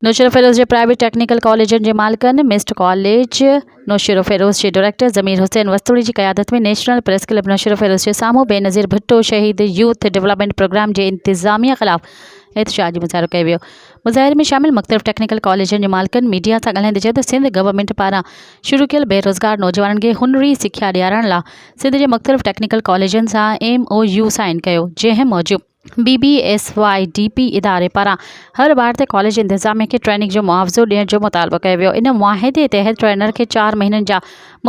نوشهروفيروز جي private technical ڪاليجن جي مالڪن ميسٽ ڪاليج نوشهروفيروز جي ڊائريڪٽر ضمير حسين وسطوڙي جي قيادت ۾ نيشنل پريس ڪلب نوشهروفيروز جي سامهون بينظير ڀٽو شهيد يوٿ ڊولپمينٽ پروگرام جي انتظاميه خلاف احتجاجي مظاهرو ڪيو ويو مظاهري ۾ شامل مختلف ٽيڪنيڪل ڪاليجن جي مالڪن ميڊيا سان ڳالهائيندي چيو ته سنڌ گورنمينٽ پاران شروع ڪيل بيروزگار نوجوانن کي هنري سکيا ڏيارڻ لا سنڌ جي مختلف ٽيڪنيڪل ڪاليجن سان ايم او يو سائين ڪيو جنهن موجب B B S Y D P اداري پاران هر ٻار تي ڪاليج انتظاميه کي ٽريننگ جو معاوضو ڏيڻ جو مطالبو ڪيو ويو ان معاهدي تحت ٽرينر کي چار مهينن جا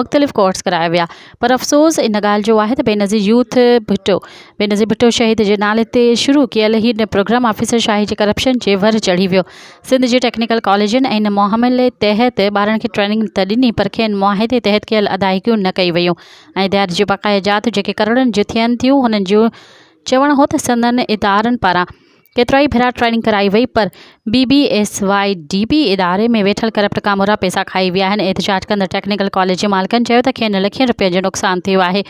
مختلف ڪورس ڪرايا ويا پر افسوس ان ڳالهه جو آهي ته بينظير يوٿ ڀٽو بينظير ڀٽو شهيد جي نالي تي شروع ڪيل هي پروگرام آفيسر شاهي جي ڪرپشن جي ور چڙهي ويو سنڌ جي ٽيڪنيڪل ڪاليجن ۽ ان معاملي تحت ٻارن کي ٽريننگ ته ڏني پر کين معاهدي تحت ڪيل ادائيگيون نه ڪيون ويون ۽ ڏياري جون بقايا جاتون جيڪي ڪروڙن جون ٿين ٿيون هنن جو چوڻ هو ته سندن ادارن پاران ڪيترائي ڀيرا ٽريننگ ڪرائي وئي پر B B S Y D P اداري ۾ ويٺل ڪرپٽ ڪامورا پئسا کائي ويا آهن احتجاج ڪندڙ ٽيڪنيڪل ڪاليج جي مالڪن چيو ته کين لکين رپين جو نقصان ٿيو آهي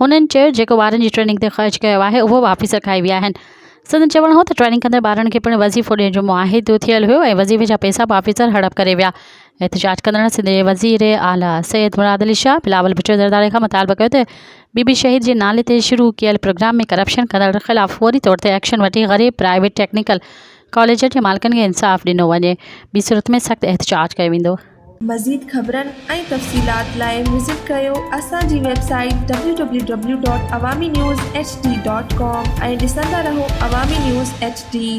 هنن چيو جيڪو ٻارن جي ٽريننگ تي خرچ ڪيو آهي اهو واپس رکائي ويا آهن سندن چوڻ هو ته ٽريننگ ڪندڙ ٻارن کي پڻ وظيفو ڏيڻ جو معاهدو ٿيل هيو ۽ وظيفي جا پئسا به آفيسر هڙپ ڪري ويا احتجاج ڪندڙن سنڌ جي وزير اعليٰ سيد مراد علي شاهه بلاول ڀٽو زرداري کان مطالبو ڪيو ته بي بي شهيد جي نالي تي شروع ڪيل پروگرام ۾ ڪرپشن ڪندڙن خلاف فوري طور تي ايڪشن وٺي غريب پرائيويٽ ٽيڪنيڪل ڪاليجن جي مالڪن کي انصاف ڏنو وڃي ٻي صورت ۾ سخت احتجاج ڪيو ويندو. مزيد خبرن ۽ تفصيلات لاء وزٽ ڪريو اسان جي website W W W dot Awami news H D dot com ۽ ڏسندا رهو عوامي نيوز ايڇ ڊي.